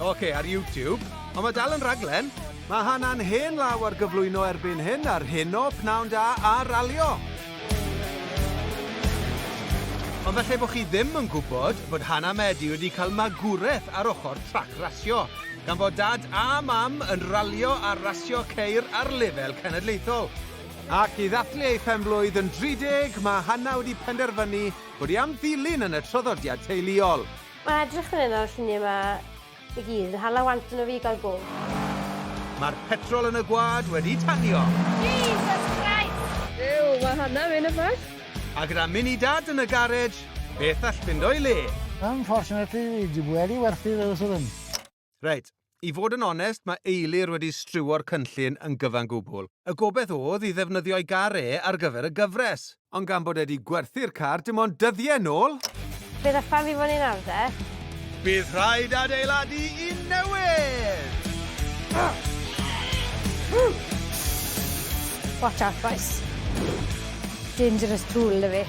Oce, ar YouTube. Ond mae dal yn rhaglen. Mae Hannah'n hen law ar gyflwyno erbyn hyn ar hyn o pnawn da a ralio. Ond felly bod chi ddim yn gwybod bod Hannah Medi wedi cael magwraeth ar ochr trac rasio, gan fod dad a mam yn ralio a rasio ceir ar lefel cenedlaethol. Ac i ddathlu ei phenblwydd yn 30, mae Hannah wedi penderfynu bod hi am ddilyn yn y traddodiad teuluol. Mae'n edrych fan hyn ar y lluniau yma i gyd yn hala want yno fi i gael go. Mae'r petrol yn y gwad wedi tanio! Jesus Christ! Ew, mae hana mynd yn fach. A gyda mini dad yn y garej, beth all fynd o'i le? Unfortunately, fi di wedi werthu fy yswrn. Reit, i fod yn onest, mae Eilir wedi striwo'r cynllun yn gyfan gwbl. Y gobaith oedd i ddefnyddio'i gar e ar gyfer y gyfres. Ond gan bod e 'di gwerthu'r car dim ond dyddiau nôl... Bydd y ffordd i fyny nawr de? Bydd rhaid adeiladu un newydd! Watch out bois. Dangerous tool 'da fi.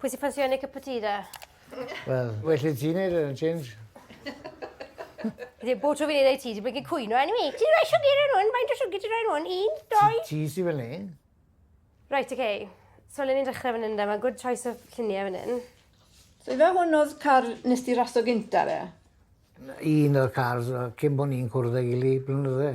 Pwy sy'n ffansio Nick a Poteeta? Wel, well i ti neud e, James. Ddim bod tro fi'n ei ti, ti'n blinkin cwyno enw i. Ti'n rhoi siwgr yn hwn, faint o siwgr ti'n rhoi yn hwn? Un, doi? Ti sy'n fel ni. Right, okay. So le ni'n dechrau fan hyn da, mae good choice of lluniau fan hyn. So fe hwn oedd car nes di raso gynta fe? Un o'r cars, cyn bod ni'n cwrdd â gili, blynydde.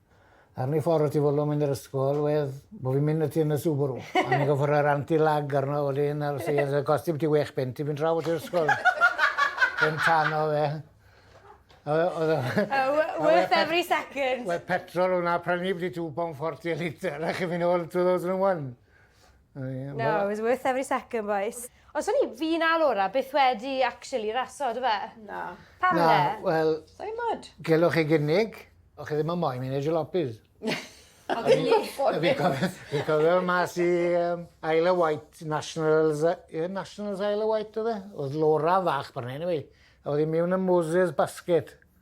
Ar ni ffordd y tu ôl o mynd i'r ysgol wedd bo' fi'n mynd ati yn y Subaru a o'n i'n gorffo roi'r anti lag arno wedyn a felly o'dd e gosti biti wech punt i fynd draw at yr ysgol. Dim tan o fe. A we- o'dd e... A we- worth every second. Wel petrol o' 'na prynu byti two pound forty a litre a chi myn' nôl two thousand an' one. No, it was worth every second, bois. Ond swn i, fi na Laura, byth wedi actually raso, do fe? Na. Pam le? Wel... Sai'n mod. Gelwch chi gynnig, o'ch chi ddim yn moyn mynd i jalopis. A fi'n gwybod. Fi'n cofio mas i um, Isle of Wight Nationals, yeah, Nationals Isle of Wight oedd e? Oedd Laura fach pan hyn i fi. A oedd hi'n mewn y Moses basket.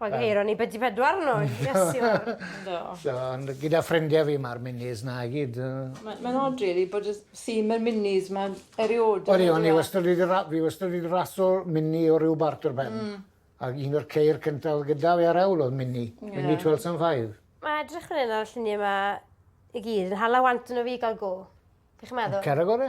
Wel, um, eiro ni byddi bedwar nhw, yes, Do. So, gyda ffrindiau fi, mae'r minis na i gyd. Mae'n ma od, really, bod y theme yr minis, mae'n eriod. Oeddi, o'n i wastad wedi, fi wastad wedi raso mini o ryw bart o'r ben. Mm. Ac un o'r ceir cyntaf gyda fi ar ewl oedd mini, yeah. mini 12 and 5. Mae edrych fan hyn ar y lluniau yma i gyd yn hala want yn o fi gael go. Chi'n meddwl? Cerag gore.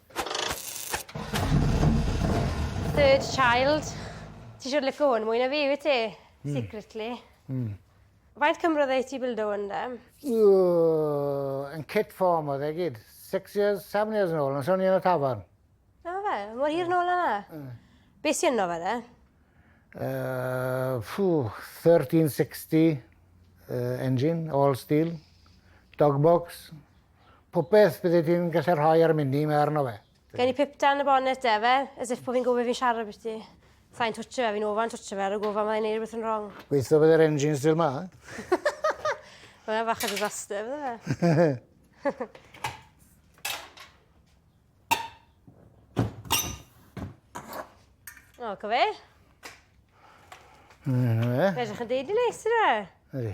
Third child. Ti siwr licio hwn mwy na fi, wyt ti? Hmm. Secretly. Mm. Faint cymrodd ei ti bildo hwn da? Yn kit form oedd e gyd. Six years, seven years yn ôl, yn sôn i'n y tafarn. Na fe, mor hir yn ôl yna. Hmm. Be sy'n yno fe de? Uh, 1360 uh, engine, all steel, dog box, popeth bydde ti'n gallu rhoi ar mini, mae arno fe. Gen i pip dan y bonnet e fe, as if bod fi'n gwybod fi'n siarad beth ti. Sa'n twtio fe, fi'n ofan twtio fe ar y gofan mae'n ei wneud rhywbeth yn wrong. Gweithio bydde'r engine still ma. Mae'n fach o disaster, fydde fe? O, co fe? Fe ydych yn deud i neis yna. Ydy.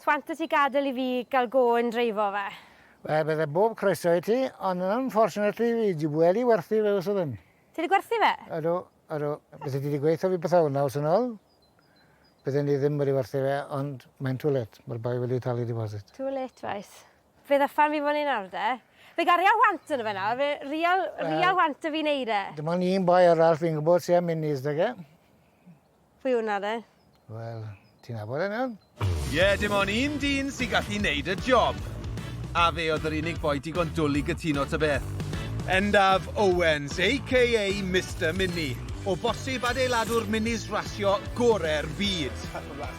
Sut wyt ti gadael i fi gael go yn dreifo fe? Wel, bydde bob croeso i ti, ond yn unfortunately fi di wedi werthu fe wsod hyn. Ti wedi gwerthu fe? Ydw, ydw. Byddai ti wedi gweithio fi pythefnos naws yn ol, bydden i ddim wedi werthu fe, ond mae'n too late, mae'r boi wedi talu deposit. Too late, reit. Fe ddyfan fi fan hyn nawr de. Fe garia want ynddo fe nawr, fe real, real want da fi wneud e. Dim ond un boi arall fi'n gwybod sy'n mynd i ysdeg e. Pwy yw 'na de? Wel, ti'n nabod e nawr? Ie, dim ond un dyn sy'n gallu neud y job! A fe oedd yr unig foi digon dwl i gytuno ta beth. Endaf Owens, aka Mister Mini, o bosib adeiladwr minis rasio gore'r byd.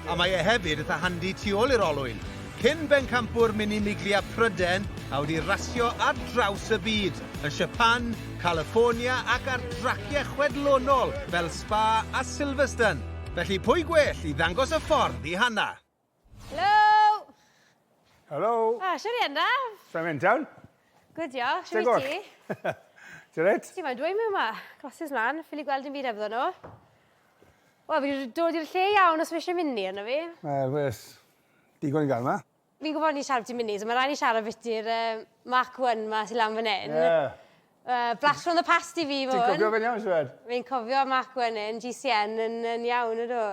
A mae e hefyd itha handi tu ôl i'r olwyn. Cyn bencampwr Minimiglia Pryden a wedi rasio ar draws y byd, yn Siapan, California ac ar draciau chwedlonol fel Spa a Silverstone, felly pwy gwell i ddangos y ffordd i Hannah? Helo! Helo! O, shwt i Hannah? Shwmae mynd iawn? Gwd diolch, shwt wyt ti? Ti'n reit? Ti moyn dweud mewn ma? Glasses mlan, ffili gweld dim byd hebddo nhw. Wel, fi wedi dod i'r lle iawn os fi eisiau mynd ni, arno fi. Wel, wes. Digon gael yma. Fi'n gwybod ni'n siarad byti munud, ond mae rhaid ni siarad biti'r uh, Mark 1 ma sy'n lan fan hyn. Yeah. Uh, blast from the past i fi fo Ti'n cofio fe'n iawn, Siwed? Fi'n cofio Mark 1 yn GCN yn, yn iawn, ydw.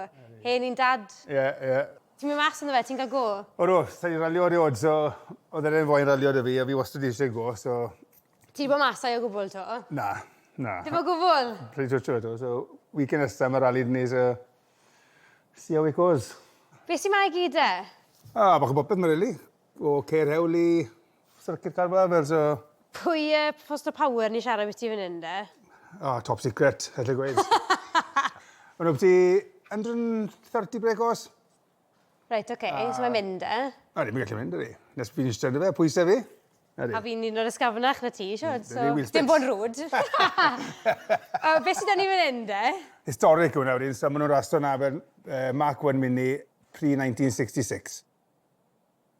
Hen i'n dad. Ie, yeah, ie. Yeah. Ti'n mynd mas ynddo fe, ti'n cael go? O do, sa'n i'n ralio erioed, so oedd e'n fwy'n ralio dy fi, a fi wastad eisiau go, so... Ti bod mas o'i o gwbl to? Na, na. Dim o gwbl? Pryd o to, so weekend nesaf mae ralli'n ni, so... See how it goes. Be sy 'ma i gyd de? Ah, bach o bopeth ma rili. O ceir hewl i Circuit Car Bravers o... Pwy yy Poster Power ni'n siarad ambiti fan hyn de? Ah, top secret, allai gweud. Maen nhw ambiti 130 brake horse. Reit, oce, A- so mae'n mynd, e? O, ddim yn gallu mynd, ydy. Nes fi'n eistedd fe, pwysau fi. Ydy. A fi'n un o'r ysgafnach na ti, siwr, so... Dim bod rwyd. uh, be sydd ni fan hyn, de? Historic hwnna wedyn, so maen nhw'n rhastro na fel uh, Mark 1 Mini pre-1966.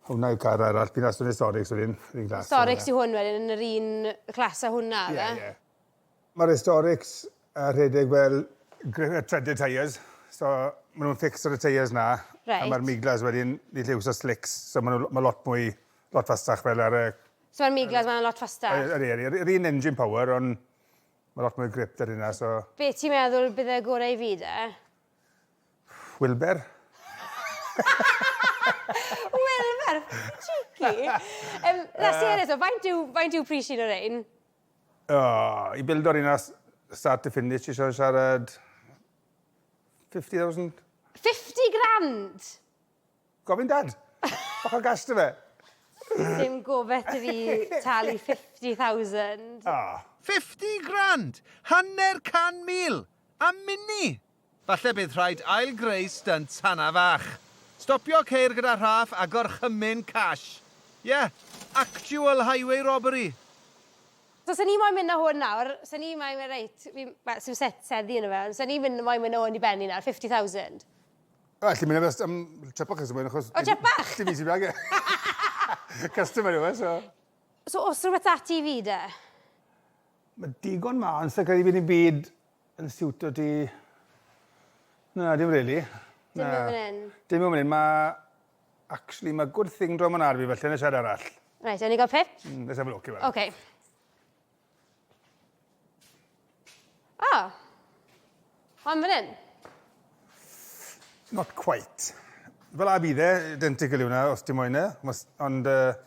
Hwna yw car arall, bydd aswn historic, so ddim, ddim glas. Historic sy'n hwn wedyn yn yr un clas a hwnna, dda? Ie, ie. Mae'r historics a rhedeg fel threaded tyres, so ma' nhw'n fixed ar y tyres 'na. Reit. A ma'r miglas wedyn, ni gallu iwso slicks, so ma' nhw ma' lot mwy, lot fastach fel ar y... So ma'r miglas 'ma'n lot fastach? Yy ydi ydi, yr un engine power on' ma' lot mwy o grip 'da rheina so... Be' ti'n meddwl bydd y gore i fi de? Wilber. Wilber! Cheeky! Yym na serious 'to faint yw faint yw pris un o rein? Oh, i bildo'r un as start to finish, ti eisiau siarad 50,000? 50 grand! Gofyn dad! Bach o gas dy fe! Dim gofet i fi talu 50,000. Oh. 50 grand! Hanner can mil! A mini! Falle bydd rhaid ail-greu stynt Hannah fach. Stopio ceir gyda rhaff a gorchymyn cash. Ie, actual highway robbery! So sa ni moyn mynd a hwn nawr, sa ni moyn mynd reit, fi'n, wel, sim set seddi yno fe, ond sa ni mynd, moyn mynd a hwn i Benny nawr, fifty thousand. O, alli mynd a fe am trip bach os moyn achos... O, trip bach! ...dim fi sy bag e. Customer yw e, so. So os rwbeth da ti i fi de? Ma' digon mân, sa credu bydd dim byd Yn siwtio ti? Na, dim rili. Dim yn fan hyn? Dim yn fan hyn. Mae... Actually, mae good thing draw man ar fi felly yn y siarad arall. Reit, ewn ni gael pip? Mm, let's have a look. Oce. Okay. O! Oh. Mae'n fan hyn? Not quite. Fel a bydd e, identical yw hwnna, os ti'n moyn e. Ond... Uh,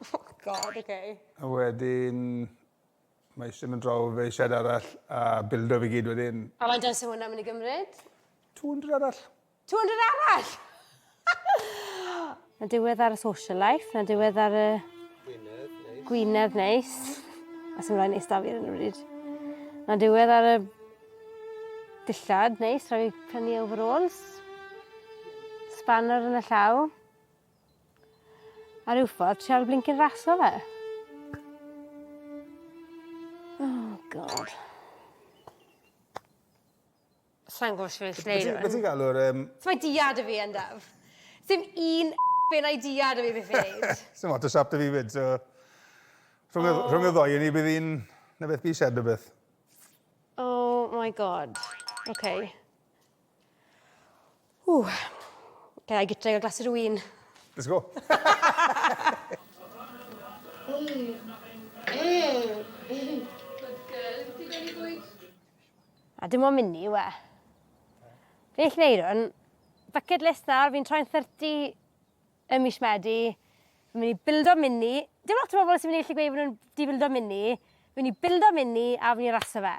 Oh God, ok. A wedyn mae eisiau mynd draw fe eisiau arall a bildo fi gyd wedyn. A mae'n dweud sy'n hwnna'n mynd i gymryd? 200 arall. 200 arall! na diwedd ar y social life, na diwedd ar y... Gwynedd neis. Gwynedd neis. A sy'n rhaid neis da fi ar hyn o bryd. Na diwedd ar y dillad neis, rhaid fi prynu overalls. Spanner yn y llaw. A ryw ffordd ti ar y blincyn rasio fe. Oh God. Sai'n gwbo shwt fi'n neud hwn. Be' ti'n galw'r yym... Su' mae diad 'da fi yn Daf? Sim un benai diad 'da fi byth 'di neud. Sim ots y siap 'da fi 'fyd so... Rhwng y rhwng y ddou o ni bydd un 'na beth fi isie rwbeth. Oh my God. Ok. Ww. Can I get a glass of rwyn? Let's go. A dim ond mynd ni, we. Fi'n eich neud hwn. Bucket list nawr, fi'n troi'n 30 ym mis Medi. Fi'n mynd i bildo mini. Dim lot o bobl sy'n mynd i allu gweud bod nhw'n di bildo mini. Fi'n mynd i bildo mini a fi'n mynd i raso fe.